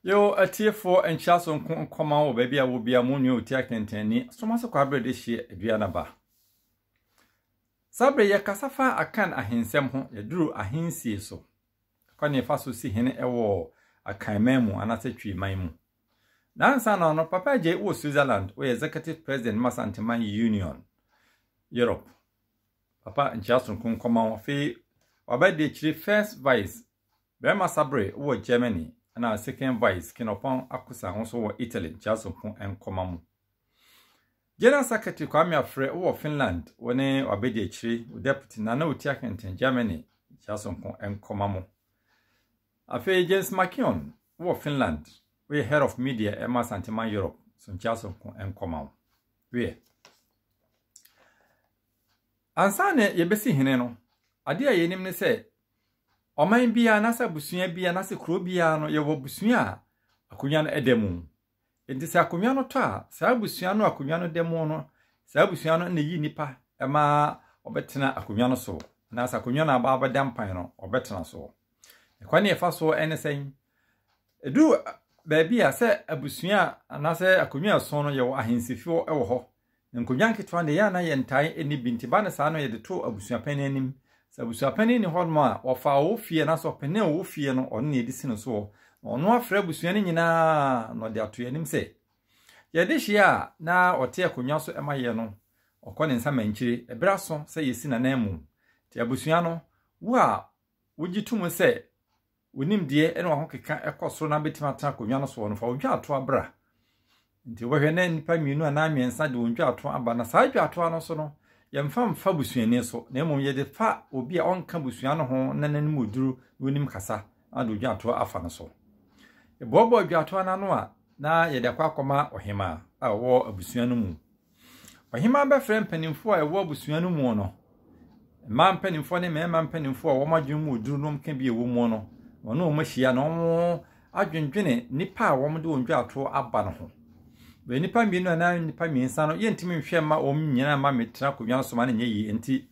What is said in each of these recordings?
Yo atiefoɔ nkyia so nko nkɔma wɔ baabi a wɔbia mo nua ɔtia kɛntɛnni soma so kɔ aberɛ de hyeɛ adua na ba saa berɛ yɛkasa fa akan ahensɛm ho yɛduru ahensie so ɛkɔ ne ɛfa so si hene ɛwɔ akan man mu anaasɛ twi man mu na ansa na ɔno papa agye wɔ Switzerland wɔyɛ executive president ma Santeman Union Europe papa nkyia so nko nkɔma wɔ fei wabɛde akyire first vice Bɛrima Sabere wɔ Germany na Second Vice Kenɔpɔn Akosa nso wɔ Italy Nteasompo Nkɔma mu. General Secretary Kwame Afrɛ wɔ Finland wɔ ne Wabɛdiakyire wɔ Deputy na na ɔtia Kenten Germany Nteasompo Nkɔma mu. Afei James Makion wɔ Finland woyɛ Head of Media ɛma Santeman Europe so Nteasompo Nkɔma mu. Wiɛ. Ansa na yɛbɛsi hene no, adeɛ a yɛnim ne sɛ Ɔman biara anaasɛ abusua biara anaasɛ kuro biara no, yɛwɔ abusua a akonnwa no da mu. Enti sɛ akonnwa no tɔ a, saa abusua no a akonnwa no da mu no, saa abusua no na ɛyi nnipa ma wɔbɛtena akonnwa no so anaasɛ akonnwa no aba abɛda mpan no, wɔbɛtena so. Ɛkwan ne ɛfa so ne sɛn? Ɛduru baabi a sɛ abusua anaasɛ akonnwa ɛso no yɛwɔ ahensifo wɔ hɔ Nkonnwa nketewa no deɛ, yɛn a na yɛntae nni bi nti, ba no saa no yɛde too abusuapɛn no anim. Sɛ abusuapɛn no nni hɔnom a, wɔfa ɔwɔ fie anaasɛ ɔpanin a ɔwɔ fie no, ɔno na yɛde si no so hɔ, na ɔno afrɛ abusua no nyinaa na ɔde ato yɛn anim sɛ yɛde hyeɛ a na ɔte akonnwa so ma yɛn no, ɔkɔ ne nsa mankyire. Ɛberɛ aso sɛ yɛsi n'ananmu. Nti abusua no, wo a wogye tom sɛ Wo nimdeɛ ne w'ahokeka kɔ soro na abɛtumi atena akonnwa no soɔ no, fa wo dwaatoa bra. Nti wobɛhwɛ na nnipa mmienu anaa mmiɛnsa de wɔn dwaatoa aba, na saa dwaatoa no so no, yɛmfa mfa busuani so, na mmom yɛde fa obi a ɔnka busua no ho na n'anim oduru na onim kasa na de dwaatoa afa no so. Yɛboaboa dwaatoa no ano a, na yɛde akɔ akɔma ɔhemaa a ɔwɔ abusua no mu. Ɔhemaa bɛfrɛɛ mpanimfoɔ a ɛwɔ abusua no mu no, mmaa mpanimfoɔ ne mmarima mpanimfoɔ a wɔn adwene mu oduru nom ka bi a ɛwɔ mu no, wɔne wɔn ahyia na wɔn adwendwene nipa a wɔn de wɔn dwatoɔ aba no ho. Bɛyɛ nipa mmienu anaa nipa mmiɛnsa no, yɛntumi nhwɛ mma wɔn nyinaa mma metra akonnwa so ma no nyɛ yie nti.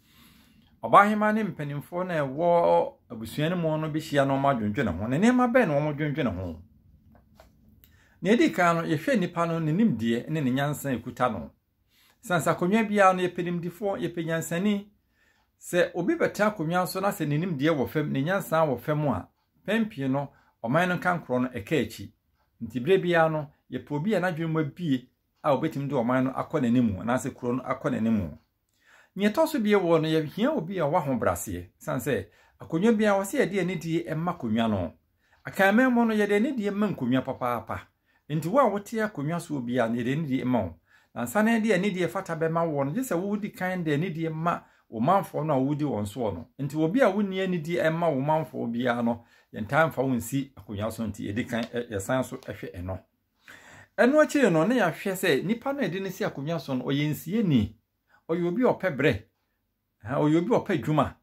Ɔbaahemaa ne mpanimfoɔ na ɛwɔ abusua no mu no bɛhyia na wɔn adwendwene ho. Ne nneɛma bɛn na wɔn dwendwene ho? Nea edi kan no, yɛhwɛ nipa no, ne nimdeɛ ne ne nyansa a ekuta no. Esiane sɛ akonnwa biara no, yɛpɛ nimdefoɔ, yɛpɛ nyansani. Sɛ obi bɛtena akonnwa so na sɛ ne nimdeɛ wɔ fam, ne nyansa wɔ fam a, mpɛn pii no, ɔman no nkankorɔ no, ɛka akyi. Enti bere biara no, yɛpɛ obi a n'adwene mu abue a obetumi de ɔman no akɔ n'anim anaasɛ kurow no akɔ n'anim. Nea ɛtɔ so bie wɔ no yɛhia obi a ɔwɔ ahobraseɛ sane sɛ akonnwa biara wɔ sɛ yɛde anidie ma akonnwa no. Akanmanmu no yɛde anidie ma nkonnwa papaapa. Enti wo a wote akonnwa soɔ biara no yɛde anidie ma wo. Na ansa na yɛde anidie ɛfata bɛma woɔ no gye sɛ wodi kan de anidie ma wo manfoɔ no a wodi wɔn soɔ no. Enti obi a wonni anidie mma wo manfoɔ biara no yɛntaa mfa wo nsi akonnwa so nti yɛdi kan yɛsan so hwɛ ɛno. Ɛno akyiri no, na yɛahwɛ sɛ nipa no a yɛde no si akonnwa so no, ɔyɛ nsieni, ɔyɛ obi a ɔpɛ berɛ, ɔyɛ obi a ɔpɛ adwuma.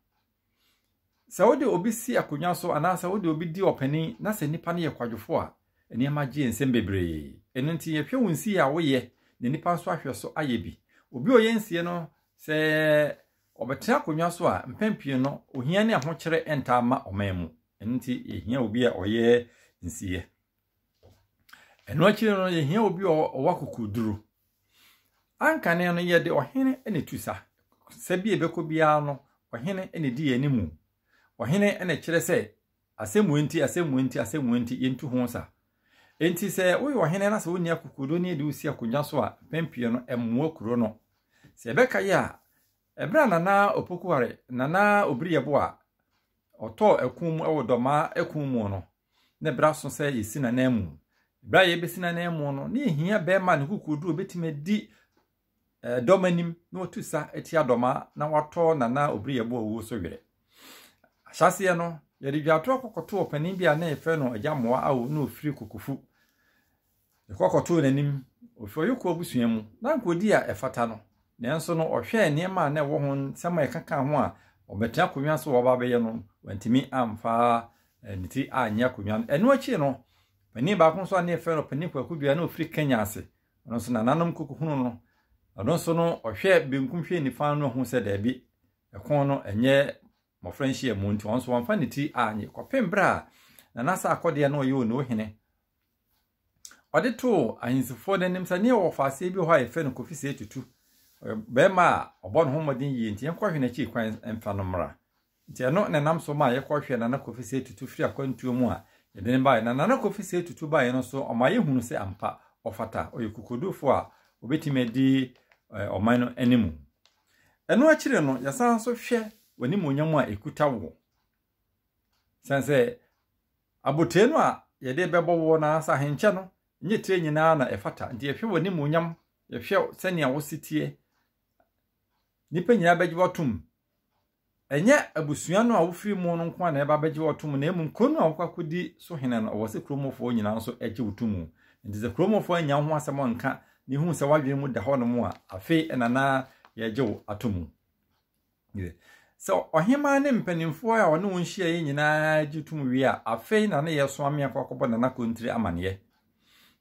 Sɛ wode obi si akonnwa so anaasɛ wode obi di ɔpanin na sɛ nipa no yɛ kwadwofo a, nneɛma gye nsɛm bebree. Ɛno nti yɛhwɛ wo nsie a woyɛ na nipa nso ahwɛ so ayɛ bi. Obi a ɔyɛ nsie no, sɛ ɔbɛtena akonnwa so a, mpɛn pii no, ohia ne ahokyerɛ ntaa ma ɔman mu. Ɛno nti yɛhia obi a ɔyɛ nsie. Ɛno akyiri no, yɛhia obi a ɔwɔ akokoduru. Anka ne no yɛde ɔhene na etu sa. Sɛ bi ebɛkɔ biara no, ɔhene na edi yɛn mu. Ɔhene na kyerɛ sɛ asɛm wɔ nti, asɛm wɔ nti, asɛm wɔ nti, yɛntu ho sa. Enti sɛ woyɛ ɔhene na sɛ wonni akokoduru ne yɛde wo si akonnwa so a, mpɛn pii no, ɛmmoa kuro no. Sɛ yɛbɛka yɛ a, ɛberɛ a Nana Opokuware, Nana Obiriyɛbo a ɔtɔɔ ɛko mu wɔ Dɔmaa ɛko mu no, na ɛberɛ aso sɛ yɛsi n'ananmu. Berɛ a yɛbɛsi n'ananmu no, na ɛhia bɛrima ne kokoɔduro bɛtumi adi dɔm anim na watu sa atia dɔma na watɔ nana obiri yɛbo a ɔwuo so werɛ. Ahyɛaseɛ no, yɛde dwatoɔ kɔkɔto ɔpanin bi a na yɛfrɛ no agya mmoa awo na ɔfiri kokofu. Ɛkɔ kɔtoo n'anim. Ofi ɔyɔkuo abusua mu. Na anka ɔdii a ɛfata no. Nanso no, ɔhwɛɛ nneɛma a na ɛwɔ ho, nsɛm a ɛka kaa ho a ɔbɛtena akonnwa so a ɔreba abɛyɛ no, wantumi amfa ne ti anyɛ akonnwa no. Ɛno akyi no, panin baako nso a na yɛfrɛ no Panin Kwaku Dua na ɔfiri Kenya ase. Ɔno nso nananom kɔkɔhunu no. Ɔno nso no, ɔhwɛɛ benkum hwɛɛ nifa no ɔhu sɛ daabi, ɛko no ɛnyɛ mmɔfra nhyiamu nti ɔno nso wamfa ne ti anyɛ kɔpem berɛ a Nana Sarkodie na ɔyɛ Onoo hene. ɔde too ahemsifoɔ no anim sɛ ne wɔ ɔfaaseɛ bi hɔ a yɛfrɛ no kofi sɛ tutu bɛrima a ɔbɔ ne ho mmɔden yie nti yɛnkɔhwɛ n'akyiri kwan mfa no mmra nti ɛno na nam so ma yɛkɔhwɛ nana kofi sɛ tutu firi akwantuo mu a yɛde no baeɛ na nana kofi sɛ tutu baeɛ no so ɔma yɛhunu sɛ ampa ɔfata ɔyɛ kokodufoɔ a ɔbɛtumi adi ɔman no anim ɛno akyire no yɛsan so hwɛ w'animonyam a ɛkuta wo sɛn sɛ Abotiri no a yɛde rebɛbɔ woɔ no ara sɛ ahenkyɛ no, ɛnyɛ tire nyinaa na ɛfata, nti yɛhwɛ w'animuonyam, yɛhwɛ sɛnea wo seteɛ, nnipa nyinaa bɛgye w'atom. Ɛnyɛ abusua no a wofiri mu no nko ara na ɛba bɛgye w'atom, na mmom kuro no a wokɔakɔdi so hene no, ɔwɔ sɛ kuromfoɔ nyinaa nso gye wo to mu. Nti sɛ kuromfoɔ annya ho asɛm anka, na ɛhu sɛ w'adwene mu da hɔnom a, afei ɛna na yɛgye wo ato mu. Sɛ ɔhemaa ne mpanimfoɔ a ɔne wɔn hyiaeɛ nyinaa gye tom wie a, afei na ne yɛ soa me akɔ akɔbɔ Nana Kontiri amaneɛ.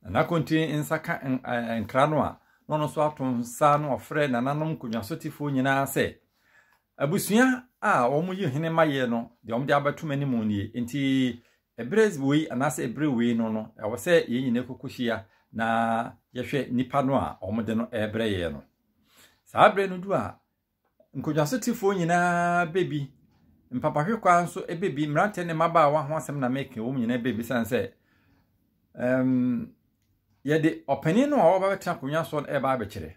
Nana Kontiri nsa ka nkra no a, na ɔno nso ato nsa na ɔfrɛ nananom nkonnwasotefoɔ nyinaa sɛ, abusua a wɔyi hene ma yɛ no, deɛ wɔde abɛto m'anim nie. Nti ɛberɛ wei anaasɛ ɛberɛ wei no no, ɛwɔ sɛ yɛn nyinaa kɔkɔhyia na yɛhwɛ nipa no a wɔde no ɛrebrɛ yɛ no. Saa berɛ no du a, Nkogyasotefo nyinaa bɛ bi, mpapahwekwaa nso bɛ bi, mmeranteɛ ne mmabaawa ho asɛm na meka, wɔn nyinaa bɛ bi sane sɛ um, yɛde ɔpanin no a ɔba bɛtena akonnwa soɔ no ɛreba abɛkyerɛ.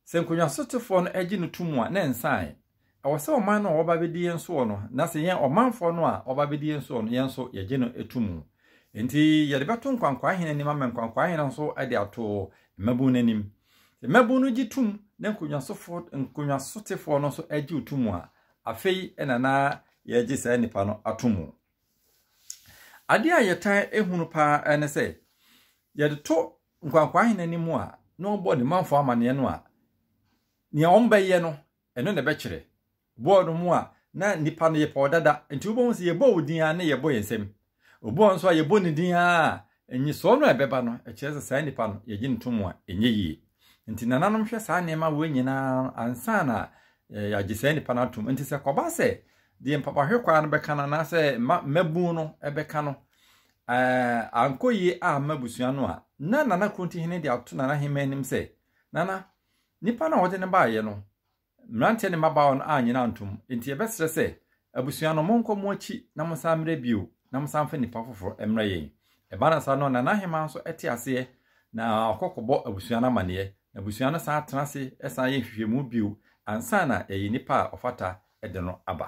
Sɛ nkogyasotefo no agye no tom a, na nsan. Ɛwɔ sɛ ɔman no a ɔba bɛdi yɛn soɔ no, na sɛ yɛn ɔmanfoɔ no a ɔba bɛdi yɛn soɔ no, yɛn nso yɛgye no tom. Enti yɛde bɛto nkwankwaa hene anim ama nkwankwaa hene nso de ato mmabun no anim. Mmabun no gye tom na nkonyasofo nkonyasotefoɔ no nso gye wo tom a, afei na na yɛgye saa nipa no atom. Adeɛ a yɛtaa ehunu paa ne sɛ, yɛde to nkwankwaa hene no mu a, na ɔbɔ ne manfoɔ amaneɛ no a, nea wɔbɛyɛ no, Ɛno na ɛbɛkyerɛ. Bɔɔl no mu a, na nnipa no yɛ pɔw dada, enti wobɛhu sɛ yɛbɔ wo din ara na yɛbɔ yɛn nsam. Obi wɔ hɔ nso a, yɛbɔ ne din ara a, nnyesɔɔ no a ɛbɛba no, ɛkyerɛ sɛ saa nipa no, yɛgye no tom a, ɛnyɛ yie. Enti nananom hwɛ saa nneɛma wei nyinaa ansa na yɛagye saa nipa no atom. Enti sɛ ɛkɔba sɛ deɛ mpapahwekwaa no bɛka no anaasɛ mma mmabun no bɛka no ankɔ yie amma abusua no a, na Nana Kronti Hene de ato Nana Hemaa anim sɛ, Nana, Nnipa no a wɔde no baeɛ no, mmeranteɛ ne mmabaawa no annye no antom. Enti yɛbɛsrɛ sɛ, abusua no, monkɔ mo akyi na monsan mmrɛ bio, na monsan mfa nnipa foforɔ mmrɛ yɛn. Ɛbaa no saa no, na n'ahemaa nso te aseɛ, na ɔkɔ kɔbɔ abusua no amanneɛ, na abusua no san tena ase san yɛ nhwehwɛmu bio ansa na yɛayi nipa a ɔfata de no aba.